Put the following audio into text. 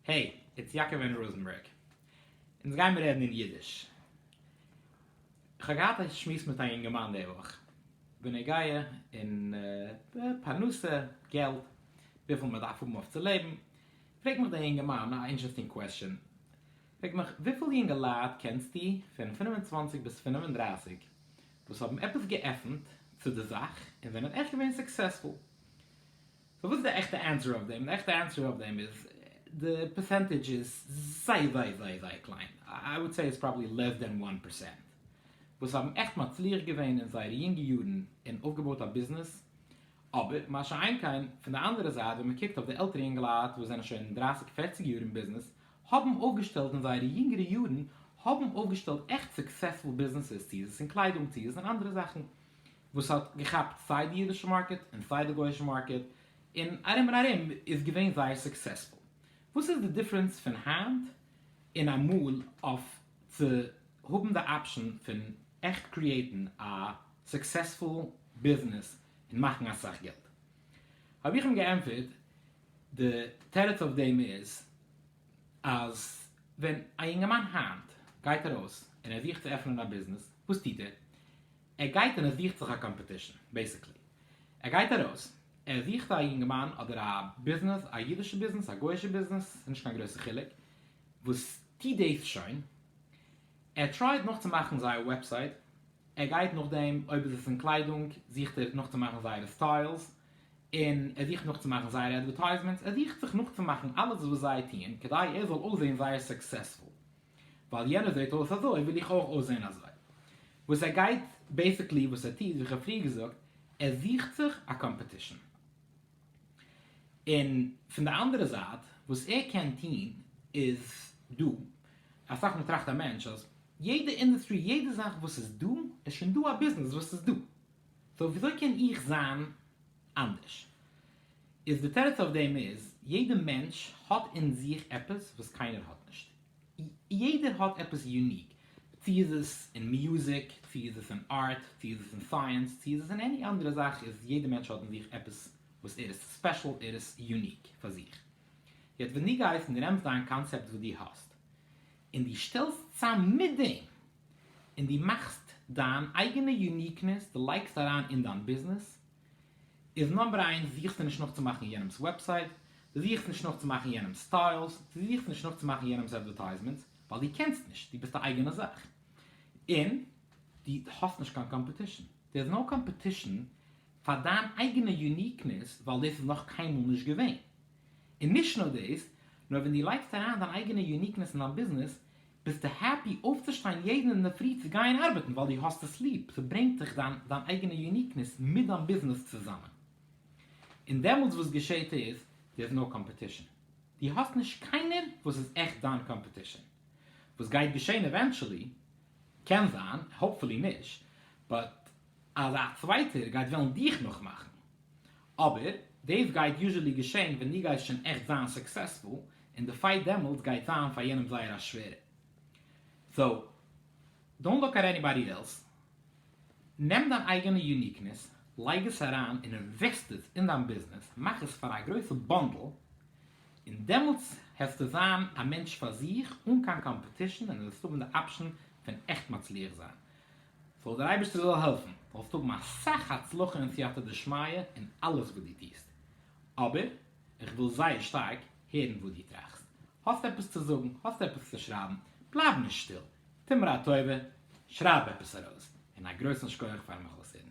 העי, איטס יעקב און ראזענבערג. אונז גיימיר רעדן אין אידיש. כ'האב געהאט א שמועס מיט א יונגערמאן די וואך, בנוגע אין פרנסה, געלט, וויפיל מען דארף האבן אויף צו לעבן, פרעגט מיך דער יונגערמאן א אינטשערסטינג קוועסטשען, פרעגט מיך, וויפיל יונגעלייט קענסטו פון פֿינף און צוואַנציק ביז פֿינף און דרײַסיק וואס האבן עפעס געעפנט צו די זאך און זענען עכט געווען סוקסעספול? סאו וואס איז די עכטע ענסער אויף דעם? די עכטע ענסער אויף דעם איז, די פערסענטעדזש איז זייער זייער זייער זייער קליין, איי וואלד סעי איטס פראבעלי לעס דען וואן פערסענט, וואס האבן עכט מצליח געווען אין זייערע יונגע יארן און אויפגעבויט א ביזנעס, אבער מה שאין כן, פון די אנדערע זייט ווען מען קוקט אויף די עלטערע אינגעלייט וואס זענען שוין דרייסיג פערציג יאר אין ביזנעס, האבן אויפגעשטעלט אין זייערע יונגערע יארן, האבן אויפגעשטעלט עכט סוקסעספול ביזנעסעס, צו איז עס אין קליידונג, צו איז עס אין אנדערע זאכן. וואס האט געכאפט סיי די אידישע מארקעט און סיי די גוישע מארקעט, און ארום און ארום איז געווען זייער סוקסעספול. וואס איז די דיפרענס פון היינט און אמאל אויף צו האבן די אפשען פון עכט קריעטן א סוקסעספול ביזנעס און מאכן אסאך געלט? האב איך אים געענטפערט, די תירוץ אויף דעם איז אז ווען א יונגערמאן היינט גייט ארויס און ער זוכט צו עפענען א ביזנעס, וואס טוט ער? ער גייט און ער זוכט זיך א קאמפעטישן, בעיסיקלי. ער גייט ארויס, ער זוכט א יונגערמאן אדער א ביזנעס, א אידישע ביזנעס, א גוי'אישע ביזנעס, ס'איז נישט קיין גרויסע חילוק, וואס טוט דאס שוין, ער טרייט נאכצומאכן זייער וועבסייט, ער גייט נאכדעם, אויב איז עס אין קליידונג, זוכט ער נאכצומאכן זייערע סטיילס, און ער זוכט נאכצומאכן זייערע עדווערטייזמענטס, ער זוכט זיך נאכצומאכן אלעס וואס זיי טוען, כדי ער זאל אויסזען זייער סוקסעספול. ווייל יענער זעט אויס אזוי וויל איך אויך אויסזען אזוי. וואס ער גייט, בעיסיקלי וואס ער טוט, ווי כ'האב פריער געזאגט, ער זוכט זיך א קאמפעטישן. און פון די אנדערע זייט, וואס ער קען טון איז, דא, אסאך מאל טראכט א מענטש אז יעדע אינדוסטרי, יעדע זאך וואס איז דא, איז שוין דא א ביזנעס וואס איז דא, סאו וויאזוי קען איך זיין אנדערש? איז די תירוץ אויף דעם איז, יעדע מענטש האט אין זיך עפעס וואס קיינער האט נישט. יעדער האט עפעס יוניק, צו איז עס אין מיוזיק, צו איז עס אין ארט, צו איז עס אין סייענס, צו איז עס אין עני אנדערע זאך, איז יעדע מענטש האט אין זיך עפעס וואס ער איז ספעשל, ער איז יוניק פאר זיך. יעצט ווען דו גייסט און רעמסט דיין קאנצעפט וואס דו האסט, און דו שטעלסט צאם מיט דעם, און דו מאכסט דיין אייגענע יוניקנעס, דו לייגסט אריין אין דיין ביזנעס, איז נאמבער איינס, זוכסטו נישט נאכצומאכן יענעמס וועבסייט, דו זוכסט נישט נאכצומאכן יענעמס סטיילס, דו זוכסט נישט נאכצומאכן יענעמס אדווערטייזמענטס, ווייל דו קענסט נישט, דו ביסט א אייגענע זאך, און דו האסט נישט קיין קאמפעטישן. דער איז נאו קאמפעטישן פאר דיין אייגענע יוניקנעס, ווייל דאס איז נאך קיינמאל נישט געווען. און נישט נאר דאס, נאר ווען דו לייגסט אריין דיין אייגענע יוניקנעס אין דיין ביזנעס, ביסטו העפי אויפצושטיין יעדן אינדערפרי צו גייען ארבעטן ווייל דו האסט עס ליב, ס'ברענגט זיך דיין אייגענע יוניקנעס מיט דיין ביזנעס צוזאמען, און דעמאלטס וואס געשעהט איז, דער איז נאו קאמפעטישן, דו האסט נישט קיינער וואס איז עכט דיין קאמפעטישן, וואס גייט געשעהן עווענטשעלי, קען זיין, האופפולי נישט, באט אז א צווייטער גייט וועלן דיך נאכמאכן. אבער דאס גייט יוזשעלי געשען ווען דו גייסט שוין עכט זיין סוקסעספול, און די פייט דעמאלטס גייט זיין פאר יענעם זייער א שווערע. סאו, דאונט לוק עט עניבאדי עלס, נעם דיין אייגענע יוניקנעס, לייג עס אריין און אינוועסט עס אין דיין ביזנעס, מאך עס פאר א גרויסע באנדל, און דעמאלטס העסטו זיין א מענטש פאר זיך, אן קיין קאמפעטישן, און וועסט האבן די אפשן פון עכט מצליח זיין. זאל דער אייבערשטער זאל העלפן זאלסט האבן אסאך הצלחה און סייעתא דשמיא אין אלעס וואס דו טוסט, אבער איך וויל זייער שטארק הערן וואס דו טראכסט, האסט עפעס צו זאגן, האסט עפעס צו שרייבן, בלייב נישט שטיל, טו מיר א טובה, שרייב עפעס ארויס, און א גרויסן שקויעך פארן מיך אויסהערן.